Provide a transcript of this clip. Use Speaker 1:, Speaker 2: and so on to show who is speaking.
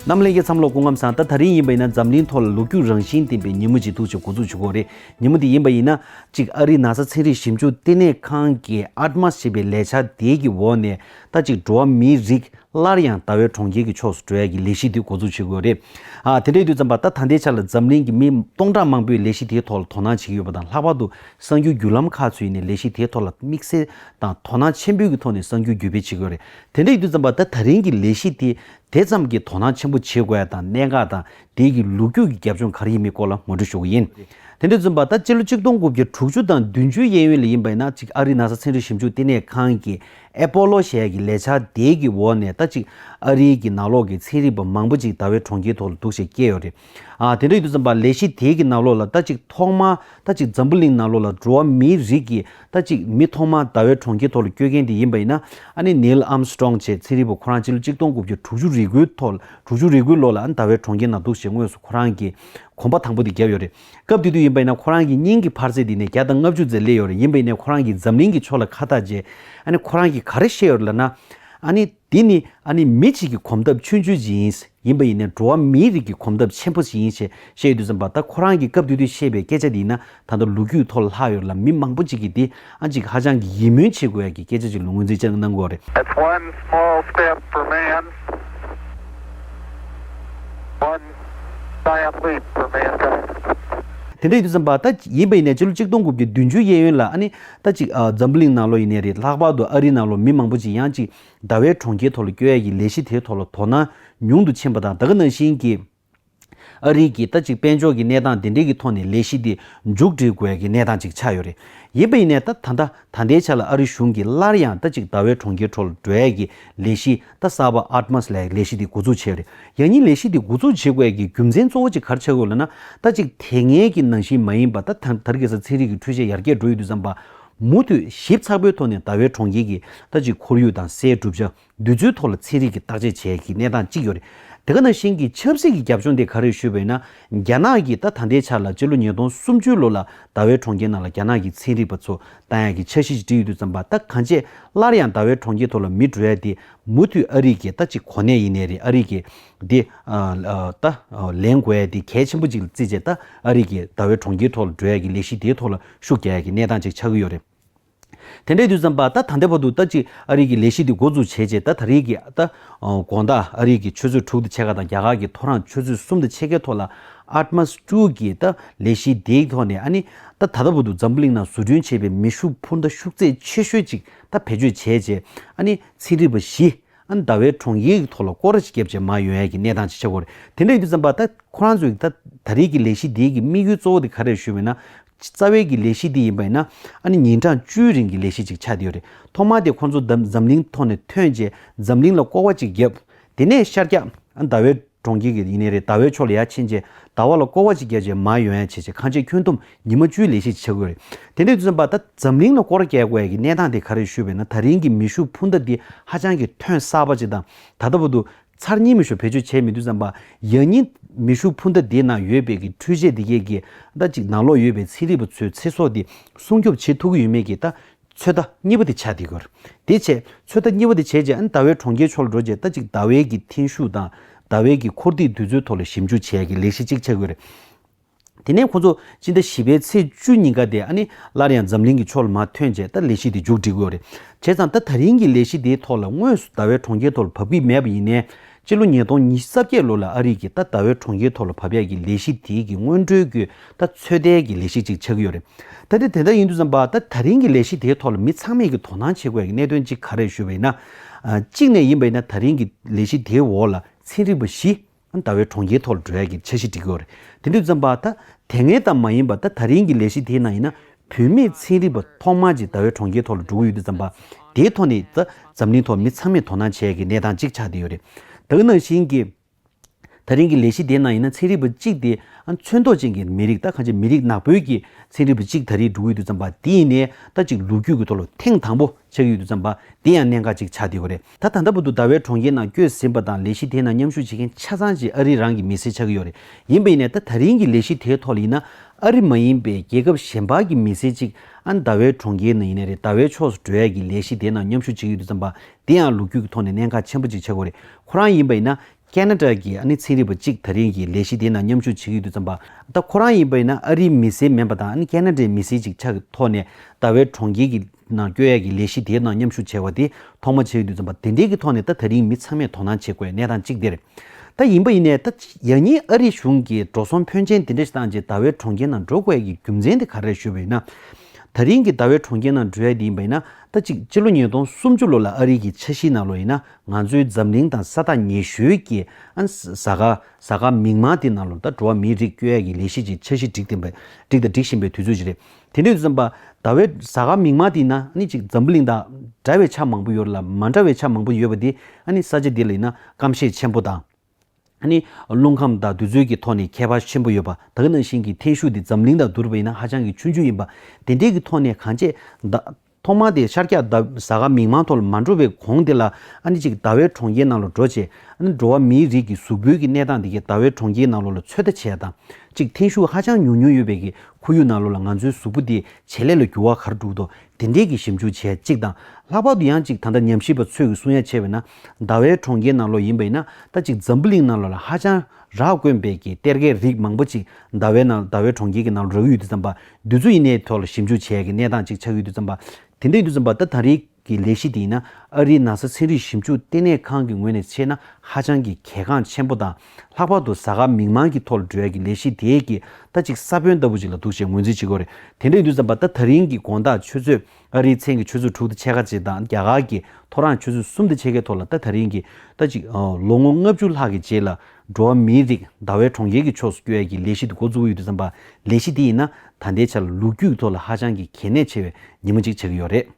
Speaker 1: རྣམས་གླིང་གི་མཚམས་ལོག་སྐུ་ངམ་
Speaker 2: སང་ད་ད་རིང་ཡིན་པ་ཡིན་ན་འཛམ་གླིང་ཐོག་ལ་ལོ་རྒྱུས་རང་བཞིན་ལྡན་པའི་ཉིན་མོ་ཞིག་ཐུག་ཆེ་འགོ་འཛུགས་བྱུ་གོ་རེད་ཉིན་མོ་དེ་ཡིན་པ་ཡིན་ན། གཅིག་ཨ་རིའི་ན་ས་ཚན་རིག་ཞིབ་འཇུག་ལྟེ་གནས་ཁང་གི Atmas ཞེས་པའི་ལས་འཆར་དེའི་གི་འོག་ནས་ད་གཅིག་འགྲོ་བ་མིའི་རིགས་སླར་ཡང་ད་ཝའི་གྲོང་ཁྱེར་གི་ཕྱོགས་སུ་འགྲོ་ཡ་གི་ལས་གཞི་དེ་འགོ་འཛུགས་བྱེད་དགོས་རེད། དེ་འདྲའི་དུས་ཙམ་པ་ད་ད་ལྟའི་ཆར་ལ་འཛམ་གླིང་གི་མི་སྟོང་ཕྲག་མང་པོས་ལས་གཞི་དེའི་ཐོག་ལ་དོ་སྣང་བྱེད་ཀྱི་ཡོད་པ་དང་ལྷག་པར་དུ་གསར་འགྱུར་བརྒྱུད་ལམ་ཁག་ཚོས་ནས་ལས་གཞི་དེའི་ཐོག་ལ་དམིགས་བསལ་དང་དོ་སྣང་ཆེན་པོའི་གི་ཐོག་ནས་གསར་འགྱུར་བརྒྱུད་སྤེལ་བྱེད་དགོས་རེད། དེ་འདྲ་ཡིན་དུས་ཙམ་པ་ད་ད་རིང་གི་ལས་གཞི་དེ་དེ་ཙམ་གྱི་དོ་སྣང་ཆེན་པོ་བྱེད་དགོས་ཡ་དང་གནད་འགག་དང་དེའི་གི་ལུགས་རྒྱུགས་ཀྱི་རྒྱབ་ལྗོངས་ག་རེ་ཡིན་མིན་སྐོར་ལ་ངོ་སྤྲོད་ཞུ་གི་ཡིན། དེ་འདྲ་ཙམ་པ་ད་སྤྱི་ལོ་གཅིག་སྟོང་དགུ་བརྒྱ་དྲུག་ཅུ་དང་བདུན་ཅུའི་གཡས་གཡོན་ལ་ཡིན་པ་ཡིན་ན་ཅིག་ཨ་རིའི་ན་ས་ཚན་རིག་ཞིབ་འཇུག་ལྟེ་གནས་ཁང་གི་ཨེ་པོ་ལོ་ཞེས་གི་ལས་འཆར་དེའི་གི་འོག་ནས་ད་ཅིག་ཨ་རིའི་གི་ནང་ལོགས་གི་ཚན་རིག་པ་མང་པོ་ཅིག་ད་བའི་གྲོང་ཁྱེར་ཐོག་ལ་འདུག་བྱེད་སྐྱེས་ཡོད་རེད། དེ་འདྲ་ཡོད་དུ་བརྩམས་པ་ལས་གཞི་དེའི་གི་ནང་ལོགས་ལ་རྟ་གཅིག་ཐོག་མར་རྟ་གཅིག་འཛམ་བུ་གླིང་ནང་ལོགས་ལ་འགྲོ་བ་མིའི་རིགས་ཀྱི་རྟ་གཅིག་མི་ཐོག་མར་ཟླ་བའི་གྲོང་ཁྱེར་ཐོག་ལ་བསྐྱོད་མཁན་དེ་ཡིན་པ་ཡིན་ན་ཨ་ནི Neil Armstrong ཅེས་ཚེ་རིལ་བུ་ཁོ་རང་སྤྱི་ལོ་གཅིག་སྟོང་དགུ་བརྒྱ་དྲུག་ཅུ་རེ་དགུའི་ཐོག་དྲུག་ཅུ་རེ་དགུའི་ལོ་ལ་ཨ་ནི་ཟླ་བའི་གྲོང་ཁྱེར་ན་འདུག་ཅེས་དངོས་སུ་ཁོ་རང་གིས་གོམ་པ་དང་པོ་དེ་བརྒྱབ་ཡོད་རེད། སྐབས་དེ་དུས་ཡིན་པ་ཡིན་ན་ཁོ་རང་གི་སྙིང་གི་འཕར་ཚད་དེ་ནས་བརྒྱ་དང་ལྔ་བཅུ་ཙེ་སླེབས་ཡོད་རེད་ཡིན་པ་ཡིན་ནའི་ཁོ་རང་གིས་འཛམ་གླིང་གི་ཕྱོགས་ལ་ཁ་བཏགས་རྗེས་ཨ་ནི་ཁོ་རང་གིས་ག་རེ་བཤད་ཡོད་རེད་ལ་ན་ཨ་ནི་འདི་ནི་ཨ་ནི་མི་གཅིག་གི་གོམ་སྟབས་ཆུང་ཆུང་ཅིག་ཡིན། ཡིན་པ་ཡིན་ན་འགྲོ་བ་མིའི་རིགས་ཀྱི་གོམ་སྟབས་ཆེན་པོ་ཞིག་ཡིན་ཞེས་བཤད་ཡོད་དུས་སམ་བ་ད་ཁོ་རང་གིས་སྐབས་དུས་དུས་བཤད་པའི་སྐད་ཆ་འདི་ཡིན་ན་ད་ལྟ་ལོ་རྒྱུས་ཐོག་ལྷག་ཡོད་ལ་མི་མང་པོ་ཅིག་གིས་འདི་ཨ་ཅིག་ཧ་ཅང་གི་ཡིད་སྨོན་བྱེད་དགོས་ཡ་གི་སྐད་ཆ་ཅིག་ལོ་ངོ་འཛིན་བཅག་གནང་དགོས་བ་རེད། It's one
Speaker 3: small step for man, one giant leap for mankind. དེ་འདྲ་ཡོད་
Speaker 2: དུས་སམ་བ་ད་ཡིན་པ་ཡིན་ན་སྤྱི་ལོ་གཅིག་སྟོང་དགུ་བརྒྱ་བདུན་ཅུ་གཡས་གཡོན་ལ་ཨ་ནི་ཟླ་གཅིག་འཛམ་བུ་གླིང་ནང་ལོ་ཡི་ནས་རེད་ལྷག་པར་དུ་ཨ་རི་ནང་ལོ་མི་མང་པོ་ཅིག་ཡང་ཅིག་ཟླ་བའི་གྲོང་ཁྱེར་ཐོག་ལ་སྐྱོད་ཡ་གི་ལས་གཞི་དེའི་ཐོག་ལ་དོ་སྣང་ཉུང་དུ་ཕྱིན་པ་དང་ད་ག་ནང་བཞིན་གྱི་ཨ་རི་གི་ཟླ་གཅིག་དཔལ་འབྱོར་གྱི་གནས་སྟངས་དེ་འདྲའི་གི་ཐོག་ནས་ལས་གཞི་དེ་མཇུག་སྒྲིལ་དགོས་གི་གནས་སྟངས་ཅིག་ཆགས་ཡོད་རེད་ཡིན་པ་ཡིན་ནས་ད་ད་ལྟ་ད་ལྟའི་ཆ་ལ་ཨ་རི་གཞུང་གིས་སླར་ཡང་ཟླ་གཅིག་ཟླ་བའི་གྲོང་ཁྱེར་ཐོག་ལ་སྒྲོལ་ཡ་གི་ལས་གཞི་རྟ་ཟ་བ Atmas ལ་ཡང་ལས་གཞི་འདི་འགོ་འཛུགས་བྱས་པ་རེད། ཡང་སྙིང་ལས་གཞི་འདི་འགོ་འཛུགས་བྱེད་དགོས་ཀྱི་རྒྱུ་མཚན་གཙོ་བོ་གཅིག་གར་ཆགས་དགོས་ལ་ན་རྟ་གཅིག་དེ་ངེད་ཀྱི་ནང་བཞིན་མ་ཡིན་པར་ད་ཐང་དར་གེ་སར་ཚན་རིག་གི་འཕྲུལ་ཆས་ཡར་རྒྱས་འགྲོ་ཡི་འདུག་བསམ་པ། མུ་མཐུད་ཞིབ་ཚགས་པོའི་ཐོག་ནས་ཟླ་བའི་གྲོང་ཁྱེར་གྱི་རྟ་གཅིག་ཁོར་ཡུག་དང་སའི་གྲུབ་ཆ་འདུས་ཚུལ་ཐོག་ལ་ཚན་རིག་གིས་བརྟག་དཔྱད་བྱས་ཀྱི་གནས་སྟངས་གཅིག་ཡོད་རེད། དེ་ག་ནང་བཞིན་གྱི་ཆབ་སྲིད་ཀྱི་རྒྱབ་ལྗོངས་དེ་ག་རེད་ཞུས་པ་ཡིན་ན། རྒྱ་ནག་གིས་ད་ད་ལྟའི་ཆར་ལ་སྤྱི་ལོ་ཉིས་སྟོང་སུམ་ཅུའི་ལོ་ལ་ཟླ་བའི་གྲོང་ཁྱེར་ནང་ལ་རྒྱ་ནག་གི་ཚན་རིག་པ་ཚོ་དང་ཡང་གི་འཆར་གཞི་ཞིག་འབྲི་ཡི་འདུག་བརྩམས་པ་ད་གང་རྗེས་སླར་ཡང་ཟླ་བའི་གྲོང་ཁྱེར་ཐོག་ལ་མི་འགྲོ་ཡ་དེ་མུ་མཐུད་ཨ་རིག་གི་ད་ཅིག་གོ་གནས་ཡིན་ནའི་རེད་ཨ་རིག་གི་དེ་ད་ལེན་དགོས་ཡ་དེ་གལ་ཆེན་པོ་ཅིག་ལ་བརྩིས་རྗེས་ད་ཨ་རིག་གི་ཟླ་བའི་གྲོང་ཁྱེར་ཐོག་ལ་འགྲོ་ཡ་གི་ལས་གཞི་དེའི་ཐོག་ལ་ཤུགས་རྒྱག་ཡ་གི་གནས་སྟངས་ཅིག་ཆགས་གི་ཡོད་རེད། དེ་འདྲའི་དུས་བརྩམས་པ་ད་ད་ལྟའི་བར་དུ་ད་ཅིག་ཨ་རིག་གི་ལས་གཞི་དེ་འགོ་འཛུགས་བྱས་རྗེས་ད་ད་རེས་ཀྱི་ད་དགོངས་དག་ཨ་རིག་གི་ཆུ་ཚོད་དྲུག་དང་ཕྱེད་ཀ་དང་རྒྱ་གར་གྱི་ཐོ་རངས་ཆུ་ཚོད་གསུམ་དང་ཕྱེད་ཀའི་ཐོག་ལ་ཨར་མཱས་ཀྲུའུ་གི་ད་ལས་གཞི་དེའི་ཐོག་ནས་ཨ་ནི་ད་ལྟ་བུ་དུ་འཛམ་བུ་གླིང་ནང་བཟོ་སྐྲུན་བྱས་པའི་མེ་ཤུགས་འཕུར་མདའ་ཤུགས་ཚད་ཆེ་ཤོས་གཅིག་ད་བེད་སྤྱོད་བྱས་རྗེས་ཨ་ནི་ཚན་རིག་པ་བཞི་ཨ་ཟླ་བའི་གྲོང་ཡིག་གི་ཐོག་ལ་སྐོར་རེས་བརྒྱབ་རྗེས་མ་ཡོན་ཡལ་གྱི་གནས་སྟངས་ཅི་ཆགས་སྐོར་དེ་འདྲ་ཡོད་དུས་བསམ་པ་ད་ཁོ་རང་ཚོས་ད་ད་རེས་ཀྱི་ལས་གཞི་དེའི་གི་དམིགས་ཡུལ་གཙོ་བོ་དེ་ག་རེད་ཞུས་པས་ན། རྩ་བའི་གི་ལས་གཞི་དེ་ཡིན་པ་ཡིན་ན་ཨ་ནི་ཉིན་གྲངས་བཅུའི་རིང་གི་ལས་གཞི་གཅིག་ཆགས་དེ་ཡོད་རེད་ཐོག་མར་དེ་ཁོང་ཚོ་ད་འཛམ་གླིང་ཐོག་ནས་ཐོན་རྗེས་འཛམ་གླིང་ལ་སྐོར་བ་གཅིག་བརྒྱབ་དེ་ནས་ཤར་རྒྱག་ཨ་ཟླ་བའི་གྲོང་ཁྱེར་གྱི་ཡིན་ནའི་རེད་ཟླ་བའི་ཕྱོགས་ལ་ཡར་ཕྱིན་རྗེས་ཟླ་བ་ལ་སྐོར་བ་ཅིག་བརྒྱད་བྱས་མ་ཡོང་ཡང་བྱས་བྱས་ཁ་འབྱེད་ཁྱོན་བསྡོམས་ཉི་མ་བཅུའི་ལས་ཤིག་བྱེད་དགོས་རེད། དེ་འདྲའི་བརྩོན་པ་ད་འཛམ་གླིང་ལ་སྐོར་བརྒྱད་དགོས་ཀྱི་གནས་སྟངས་དེ་ག་རེ་ཞུས་པས་ན་ད་རིང་གི་མི་ཤུགས་འཕུར་མདའ་འདི་ཧ་ཅང་གི་ཐོན་གསར་པ་ཅིག་དང་ད་ལྟ་བུ་དུ་ཚར་གཉིས་མི་ཤུགས་བེད་སྤྱོད་བྱས་མི་འདུག་བསམ་པ་ཡག་ཉིན་མི་ཤུགས་འཕུར་མདའ་དེའི་ནང་ཡོད་པའི་གི་འཕྲུལ་ཆས་དེ་གས་གི་ད་ཅིག་ནང་ལོག་ཡོད་པའི་ཚེ་རིལ་བུ་ཚོའི་ཚེ་སྲོག་དེ་སྲུང་སྐྱོབ་བྱེད་ཐུབ་ཀྱི་ཡོད་མེད་ཀྱི་ད་ཚོད་ལྟ་གཉིས་པོ་དེ་བྱ་དེ་དགོས། དེ་བྱས། ཚོད་ལྟ་གཉིས་པོ་དེ་བྱས་རྗེས་ཨན་ཟླ་བའི་གྲོང་ཁྱེར་ཕྱོགས་ལ་འགྲོ་རྗེས་ཟླ་གཅིག་ཟླ་བའི་གི་འཐེན་ཤུགས་དང། ཟླ་བའི་གི་འཁོར་འདེགས་དུས་ཚོད་ཐོག་ལ་ཞིབ་འཇུག་བྱས་གི་ལས་གཞི་གཅིག་བྱ་དགོས། དེ་ནས་ཁོ་ཚོ་སྤྱི་ཟླ་བཞི་པའི་ཚེས་བཅུ་ཉིན་ག་དེ་ཨ་ནི་སླར་ཡང་འཛམ་གླིང་གི་ཕྱོགས་ལ་མ་ཐོན་རྗེས་ད་ལས་གཞི་དེ་མཇུག་སྒྲིལ་དགོས། བྱས་ཙང་ད་ད་རིང་གི་ལས་གཞི་དེའི་ཐོག་ལ་དངོས་སུ་ཟླ་བའི་གྲོང་ཁྱེར་ཐོག་ལ་བབས་ཀི་མེད་པ་ཡིན་ནའི། སྤྱི་ལོ་ཉིས་སྟོང་ཉིས་བརྒྱ་རྩ་བརྒྱད་ལོ་ལ་ཨ་རིག་གི་རྟ་ཟླ་བའི་གྲོང་ཁྱེར་ཐོག་ལ་བབས་ཡས་ཀྱི་ལས་གཞི་དེའི་གི་སྔོན་འགྲོའི་གི་རྟ་ཚོད་ལྟའི་གི་ལས་གཞི་ཅིག་ཆགས་ཀྱི་ཡོད་རེད། ད་དེ་དེ་འདྲ་ཡིན་དུས་སམ་བ་ད་ད་རིང་གི་ལས་གཞི་དེའི་ཐོག་ལ་མི་ཚང་མས་གི་དོ་སྣང་བྱེད་དགོས་ཡས་ཀྱི་གནད་དོན་གཅིག་ག་རེད་ཞུས་པ་ཡིན་ན། གཅིག་ནས་ཡིན་པ་ཡིན་ན་ད་རིང་གི་ལས་གཞི་དེའི་འོག་ལ་ཚན་རིག་པ་བཞི་ཨ་ཟླ་བའི་གྲོང་ཁྱེར་ཐོག་ལ་འགྲོ་ཡས་ཀྱི་འཆར་གཞི་བསྒྲིགས་ཀྱི་ཡོད་རེད་དེ་དུས་སམ་བ་ད་དེ་ངས་ད་མ་ཡིན་བ་ད་ད་རིང་གི་ལས་གཞི་དེའི་ནང་ཡིན་ན་བུད་མེད་ཚན་རིག་པ་ཐོག་མར་གྱི་ཟླ་བའི་གྲོང་ཁྱེར་ཐོག་ལ་འགྲོ་གི་ཡོད་དུས་བརྩམས་པ་དེའི་ཐོག་ནས་ད་འཛམ་གླིང་ཐོག་མི་ཚང་མས་དོ་སྣང་བྱེད་ཡ་གི་གནས་སྟངས་གཅིག་ཆགས་བསྡད་ཡོད་རེད། དག་ནང་བཞིན་གྱི་ད་རིང་གི་ལས་གཞི་དེའི་ནང་ཡིན་ན་ཚན་རིག་པ་གཅིག་དེ་མཚོན་ཐོག་ཅན་གྱི་མི་རིགས་ད་ག་ཅིག་མི་རིགས་ནག་པོའི་གྱི་ཚན་རིག་པ་གཅིག་ད་རིང་འགྲོ་གི་ཡོད་དུས་བརྩམས་པ་དེ་ཡིན་ནས་ད་ཅིག་ལོ་རྒྱུས་ཀྱི་ཐོག་ལ་ཐེངས་དང་པོ་ཆགས་ཡོད་དུས་བརྩམས་པ་དེ་ཡང་གནད་འགག་གཅིག་ཆགས་བསྡད་ཡོད་རེད། ད་ད་ལྟ་བུ་དུ་ཟླ་བའི་གྲོང་ཁྱེར་ནང་བསྐྱོད་ཟིན་པ་དང་ལས་གཞི་དེའི་ནང་མཉམ་ཞུགས་བྱེད་མཁན་ཆ་ཚང་གཅིག་ཨ་རིའི་རང་གི་མི་སེར་ཆགས་ཀྱི་ཡོད་རེད། ཡིན་པའི་ནས་ད་ད་རིང་གི་ལས་གཞི་དེའི་ཐོག་ལ་ཡིན་ན་ཨ་རི་མ་ཡིན་པའི་རྒྱལ་ཁབ་གཞན་པ་གི་མི་སེར་གཅིག་ཨན་ད་བའི་གྲོང་ཁྱེར་ནང་ཡིན་ནས་རེད་ད་བའི་ཕྱོགས་སུ་འགྲོ་ཡས་ཀྱི་ལས་གཞི་དེའི་ནང་མཉམ་ཞུགས་བྱེད་ཀྱི་ཡོད་དུ་བརྩམས་པ་འདི་ཡང་ལུགས་རྒྱུད་ཀྱི་ཐོག་ནས་གནད་འགག་ཆེན་པོ་གཅིག་ཆགས་གོ་རེད་ཁོ་རང་ཡིན་པ་ཡིན་ན་ཀན་ན་ཀྲ་གི་ཨ་ནི་ཚན་རིག་པ་གཅིག་ད་རིང་གི་ལས་གཞི་དེའི་ནང་མཉམ་ཞུགས་བྱེད་ཀྱི་ཡོད་དུས་བརྩམས་པ། ད་ཁོ་རང་ཡིན་པ་ཡིན་ན་ཨ་རིའི་མི་སེར་མིན་པ་དང་ཨ་ནི་ཀན་ན་ཀྲའི་མི་སེར་ཅིག་ཆགས་ཀྱི་ཐོག་ནས་ད་བའི་གྲོང་ཁྱེར་གྱི་ནང་སྐྱོད་ཡག་གི་ལས་གཞི་དེའི་ནང་མཉམ་ཞུགས་བྱས་བ་དེ་ཐོག་མ་བྱས་ཡོད་དུས་བརྩམས་པ་དེ་འདྲའི་གི་ཐོག་ནས་ད་ད་རིང་མི་ཚང་མས་དོ་སྣང་བྱེད་དགོས་གནས་སྟངས་གཅིག་དེར་ད་ཡིན་པ་ཡིན་ནས་ད་ཡག་ཉིན་ཨ་རི་གཞུང་གིས་འགྲོ་སོང་ཕོན་ཆེན་དེ་འདྲ་ཞིག་བཏང་རྗེས་ད་བའི་གྲོང་ཁྱེར་ནང་འགྲོ་དགོས་ཡག་གི་རྒྱུ་མཚན་དེ་ག་རེད་ཞུས་པ་ཡིན་ན། ད་རིང་གི་ད་བའི་གྲོང་ཁྱེར་ནང་འགྲོ་ཡག་དེ་ཡིན་པ་ཡིན་ན་ད་ཅིག་སྤྱི་ལོ་ཉིས་སྟོང་སུམ་ཅུ་ལོ་ལ་ཨ་རི་གི་ཆ་གཞིའི་ནང་ལོ་ཡིན་ན་ང་ཚོའི་འཛམ་གླིང་དང་ས་ཐག་ཉེ་ཤོས་ཀྱི་གཟའ་སྐར་མིག་མངས་དེ་ནང་ལོ་ཟླ་འགྲོ་བ་མིའི་རིགས་སྐྱོད་ཡ་ཀྱི་ལས་གཞི་ཅིག་འཆར་གཞི་སྒྲིག་དང་སྒྲིག་བཞིན་པའི་དུས་ཚོད་ཅིག་རེད། དེ་དུས་ཟམ་པ་ཟླ་བའི་གཟའ་སྐར་མིག་མངས་དེ་ན་ཅིག་འཛམ་བུ་གླིང་དང་འདྲ་བའི་ཆ་མང་པོ་ཡོད་རེད་ལ་མ་འདྲ་བའི་ཆ་མང་པོ་ཡོད་པ་དེ་ས་ཆ་དེ་ལ་ཡིན་ན་སྐམ་ཤས་ཆེན་པོ་དང། ནི། རླུང་ཁམས་དང་དུས་ཚོད་ཀྱི་ཐོག་ནས་ཁྱད་པར་ཆེན་པོ་ཡོད་པ། ད་གིན་ནང་བཞིན་གྱི་འཐེན་ཤུགས་དེ་འཛམ་གླིང་དང་བསྡུར་བས་ན་ཧ་ཅང་གི་ཆུང་ཆུང་ཡིན་པ། དེ་འབྲེལ་གྱི་ཐོག་ནས་གངས་ཆད། ཐོག་མ་དེ་ཤར་སྐྱ་བཟའ་ཁ་མིག་མང་ཐོག་ལ་མ་འགྲོ་བའི་གོང་དེ་ལ། ནི་ཅིག་ཟླ་བས་གྲོང་ཁྱེར་ནང་ལ་འགྲོ་བྱས། ནི་འགྲོ་བ་མིའི་རིགས་ཀྱི་གཟུགས་པོའི་གི་གནས་སྟངས་དེ་གིས་ཟླ་བས་གྲོང་ཁྱེར་ནང་ལོ་ལ་ཚོད་ལྟ་བྱས་དང། ཅིག་འཐེན་ཤུགས་ཧ་ཅང་ཉུང་ཉུང་ཡོད་པའི་གི་ཁོར་ཡུག་ནང་ལོ་ལ་ང་ཚོའི་གཟུགས་པོ་དེ་ཇེ་ལེགས་ལ་འགྱུར་བ་གར་འགྲུག་ཏོ། དེ་འབྲེལ་གྱི་ཞིབ་འཇུག་བྱས་ཅིག་དང། ལྷག་པར་དུ་ཡང་ཅིག་ད་ལྟ་ཉམས་ཞིབ་པ་ཚོས་གི་གསུང་ཡ་ཆེ་བས་ན། ཟླ་བའི་གྲོང་ཁྱེར་ནང་ལོགས་ཡིན་པ་ཡིན་ན་ད་ཅིག་འཛམ་བུ་གླིང་ནང་ལོགས་ལ་ཧ་ཅང་རགས་དཀོན་པས་ཀྱི་གཏེར་ཁའི་རིགས་མང་པོ་ཅིག་ཟླ་བའི་ནང་ཟླ་བའི་གྲོང་ཁྱེར་གྱི་ནང་ལོགས་རགས་ཡོད་དུས་ཙམ་པ་དུས་ཚོད་ཡིན་ནའི་ཐོག་ལ་ཞིབ་འཇུག་བྱས་ཀྱི་གནས་སྟངས་ཅིག་ཆགས་ཡོད་དུས་ཙམ་པ། དེ་འདྲ་ཡིན་དུས་ཙམ་པ་ད་ད་རིགས་ཀྱི་ལས་གཞི་དེ་ཡིན་ན་ཨ་རིའི་ན་ས་ཚན་རིག་ཞིབ་འཇུག་ལྟེ་གནས་ཁང་གི་ངོས་ནས་ཕྱེས་ན་ཧ་ཅང་གི་གལ་འགངས་ཆེན་པོ་དང་ལྷག་པར་དུ་གཟའ་སྐར་མིག་མངས་ཀྱི་ཐོག་ལ་འགྲོ་ཡ་ཀྱི་ལས་གཞི་དེས་ཀྱི་ད་ཅིག་ས་བོན་ལྟ་བུ་ཅིག་ལ་འདུག་ཅེས་ངོས་འཛིན་བྱེད་དགོས་རེད་དེ་འདྲ་ཡིན་དུས་ཙམ་པ་ད་ད་རིང་གི་དགོངས་དག་ཆོས་ཚོད། ཨ་རིའི་མཚན་གྱི་ཆུ་ཚོད་དྲུག་ཏུ་ཕྱེད་ཀ་བཅས་དང་རྒྱ་གར་གྱི་ཐོ་རངས་ཆུ་ཚོད་གསུམ་ཏུ་ཕྱེད་ཀའི་ཐོག་ལ་ད་ད་རིང་གི་ཟླ་གཅིག། ལོ་ངོ་ལྔ་བཅུ་ལྷག་གི་རྗེས་ལ་འགྲོ་བ་མིའི་རིགས་ཟླ་བའི་གྲོང་ཁྱེར་གྱི་ཕྱོགས་སུ་སྐྱོད་ཡ་གྱི་ལས་གཞི་འདི་འགོ་འཛུགས་ཡུལ་དུ་བརྩམས་པ། ལས་གཞི་འདི་ཡིན་ན་ད་ལྟའི་ཆར་ལོ་རྒྱུས་ཀྱི་ཐོག་ལ་ཧ་ཅང་གི་གལ་གནད་ཆེ་བའི་ཉིན་མོ་གཅིག་ཆགས་ཀྱི་ཡོད་རེད།